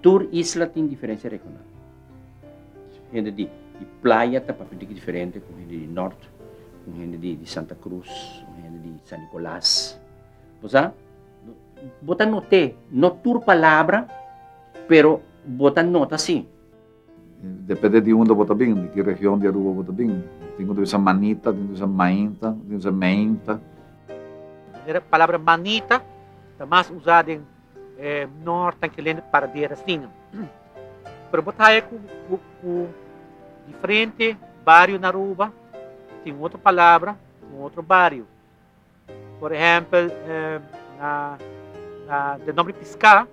Tur isla tin diferensia regional. Hende di di playa ta papia di diferente ku hende di nort, ku hende di Santa Cruz, ku hende di San Nicolas. Bo sa, bo ta not'é, no tur palabra, pero bo ta nota sí. Depende di unda bo ta bin, di ki region di Aruba bo ta bin. Tin ku ta bisa manita, tin ku ta bisa mainta, tin ku ta bisa meinta. E palabra manita ta mas usá den nort dan kelende paradera asina. Pero bo ta haya ku diferente bario na Aruba tin otro palabra, tin otro bario. Por ehempel, na den nomber di piská,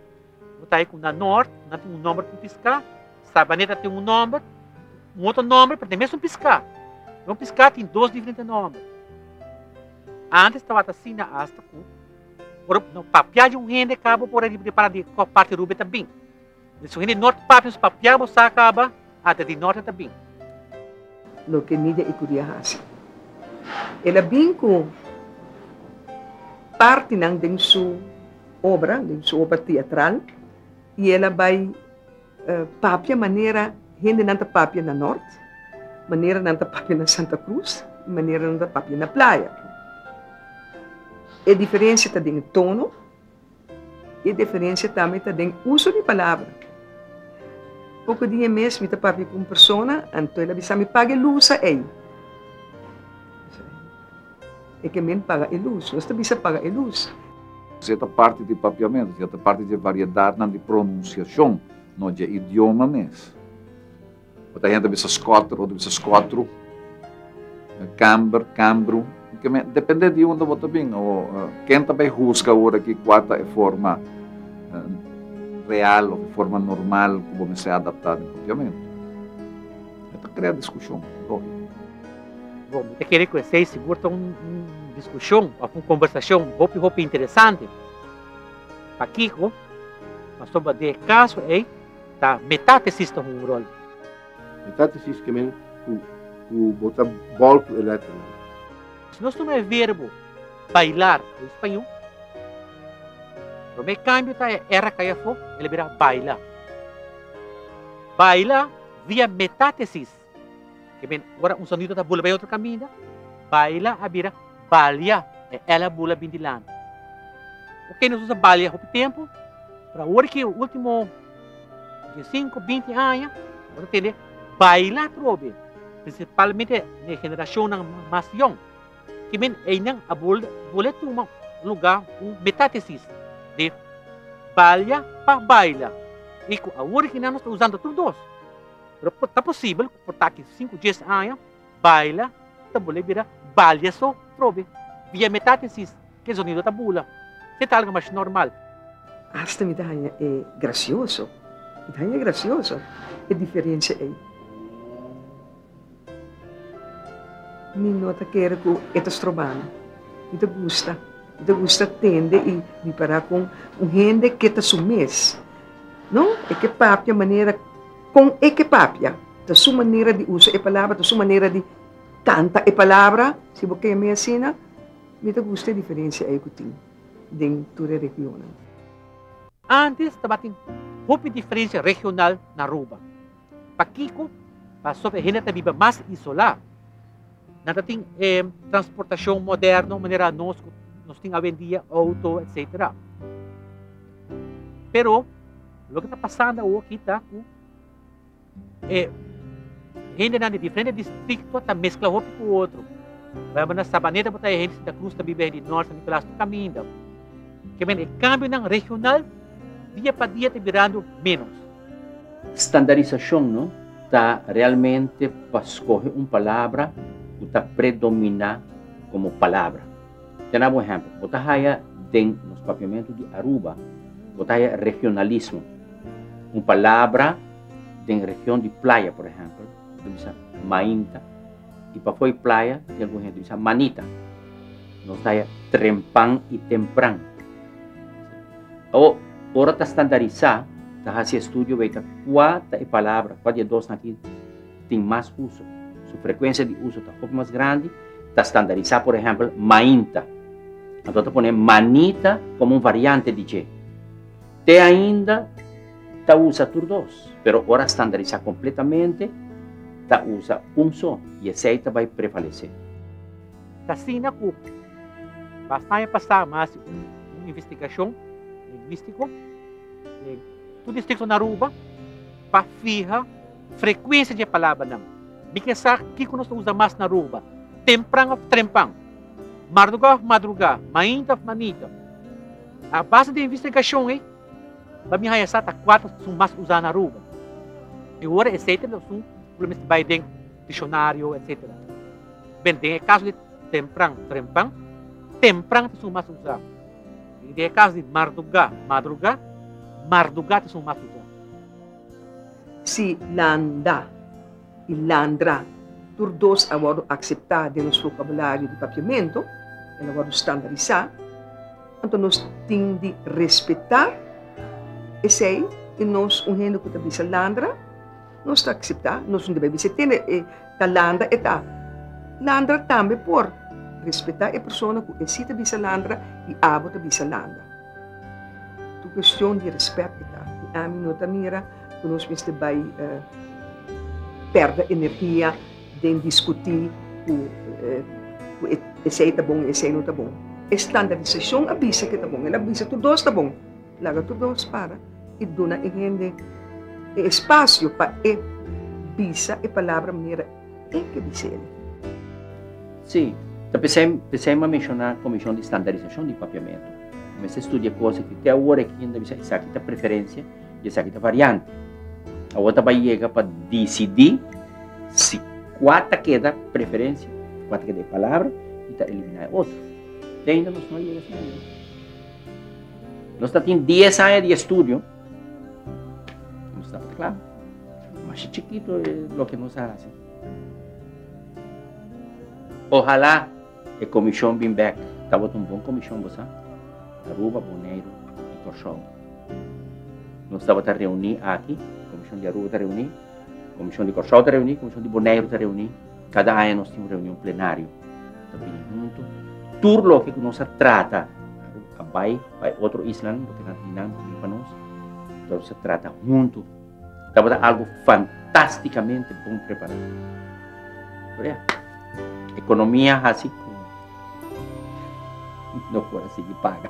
bo ta haña ku na nort nan tin un nomber di piská, Sabaneta tin un nomber, un otro nomber pero den mesun piská. Pero un piská tin dos diferente nomber. Antes tabata asina asta ku ora bo papiá di un hende ka bo por a riba di pará di kua parti Rubén ta bin. Di su hende nort papia su papia bo sa caba ata di norte ta bin. Loke Midia y Cudia haci. El a bin cu partinan den su obra, den su obra teatral y el a bay papia manera hendenan ta papia na nort, manera nan ta papia na Santa Cruz y manera nan ta papia na playa. E diferencia ta den e tono. E diferensia tambe ta den uso di palabra. Poko di e mes mi ta papia ku un persona, anto el a bisa mi, Paga e lus ei. E ke men paga e lus. Nos ta bisa paga e lus. Esei ta parti di papiamentu, esei ta parti dje variedatnan di pronunsiashon, no dje idioma mes. Bo ta henter bisa Scotter o ta bisa Scottru, Camber, Cambru, depende di unda bo ta bin. Ken ta bai husga ora aki kua ta e forma real of e forma normal ku bo mester adaptá den propiamentu? E ta krea diskushon, lógiko. Bo ta kere ku esei sigur ta un diskushon òf un kombersashon hopi hopi interesante. Pa kiko? Pasobra den e kaso ei. Ta metathesis ta hungu rol. Metathesis ke men ku ku bo ta bòl ku e lèter men. Si nos tuma e verbo bailar den spañó, promé kambio ta e er a kai afó, el a bira baila. Baila via metathesis. Ke men ora un sonido ta bula bay otro caminda, baila a bira balia e el a bula bin dilanti. Ok nos usa balia hopi tempo, pero awor ke ultimo di cinco, binti aña nos ta tende baila atrobe, principalmente e generacionnan mas yong. Ke men eynan a bula bula e tuma un luga, un metathesis de balia pa baila y cu awor ke nan nos ta usando tur dos. Pero por ta posibel cu por taki di sinku, dies aña, baila ta bolé bira balia so trobe. Via metátesis, k'e zonido ta bula. Sey ta algo mas normal. Asta mi ta haña e gracioso. Mi ta haña e gracioso e diferencia ey. Mi no ta kere cu e ta strobanan. Mi ta gusta. Mi ta gusta tende y ripara con un hende k'e ta su mes. No, e k'e papia manera. Kon e ke papia? Ta su manera di usa e palabra, ta su manera di kanta e palabra. Si bo kee mi asina, mi ta gusta e diferensia ei ku tin den tur e regionnan. Antes tabatin hopi diferensia regional na Aruba. Pakiko? Pasof e hende ta biba mas isolá. Nan tatin e transportashon moderno manera nos ku nos tin awendia, outo, etsetera. Pero Loke ta pasando awoki ta ku e hendenan di diferente distrikto ta meskla hopi ku otro. Por ehempel, na Sabaneta bo ta e hende Santa Cruz, ta biba e di Nort San Nicolas, tur kaminda. Ke men e kambionan regional dia pa dia ta birando ménos. Standarisashon no ta realmente pa skohe un palabra ku ta predominá komo palabra. Te na bo ehempel, bo ta haya den nos Papiamentu di Aruba, bo ta haya regionalismo. Un palabra den region di Playa, por ehempel, bo ta bisa Mainta, y pafo'i Playa tin algun hende bisa Manita. Nos ta haya trempan y tempran. O, ora ta standarisá, ta hasi estudio weka kua ta e palabra, kua di e dosnan aki, tin mas uso. Su frekuensia di uso ta hopi mas grandi, ta standarisá por ehèmpel mainta, anto ta pon'é manita komo un variante di dje. Te ainda ta usa tur dos, pero ora standarisá kompletamente ta usa un so i esei ta bai prevalesé. Ta asina ku basta aña pasá mi hasi un investigashon lingwístiko den tur distrikto na Aruba pa fiha. Frekuensia dje palabranan. Mi ke sa kiko nos ta usa mas na Aruba, tempran of trempan, mardugá of madrugá, mainta of manita. A base di investigashon ei, pa mi haña sa ta kuater su mas usá na Aruba. E ora esei ta na su ku lo mester bai den dikshonariu etsetera. Bel, den e kaso di tempran, trempan, tempran ta su mas usá. I den e kaso di mardugá, madrugá, mardugá ta su mas usá. Si landa i landra tur dos a wòrdu akseptá den nos vokabulario di papiamentu, el a wòrdu standarisá, anto nos tin di respetá esei i nos un hende ku ta bisa landra, nos ta akseptá, nos no debe a bisa tene e ta landa e ta. Landra tambe por. Respetá e persona ku e si ta bisa landra i abo ta bisa landa. Tu cuestion di respect e ta. Y ami no ta mira cu nos mester bay perde energia den discuti cu cu esey ta bon y esey no ta bon. E standardisacion a bisa ke ta bon. El a bisa tur dos ta bon. Laga tur dos para y duna e hende e espacio pa e bisa e palabra manera. Tin ke di seli. Sí, ta pesei, pesei m'a menshoná Komishon di Standarisashon di Papiamentu. Bo mester studia kos ki te awor aki nan ta bisa esaki ta preferensia i esaki ta variante. Awor ta bai yega pa disidí si kua ta keda preferensia, kua ta keda e palabra i ta eliminá e otro. Te ainda nos no a yega esei nivel. Nos ta tin dies aña di estudio. Nos ta kla, mas chikitu e loke nos a hasi. Ohalá e komishon bin bèk. Tabata un bon komishon, bo sa? Aruba, Boneiru i Kòrsou. Nos tabata reuní aki, komishon di Aruba ta reuní, komishon di Kòrsou ta reuní, komishon di Boneiru ta reuní. Kada aña nos tin un reunion plenario ta bini huntu. Tur loke ku nos a trata a bai pa e otro islanan loke nan di nan bini pa nos ta nos a trata huntu. Tabata algu fantasticamente bon prepara. Oria economia hasi ku no por a sigui paga.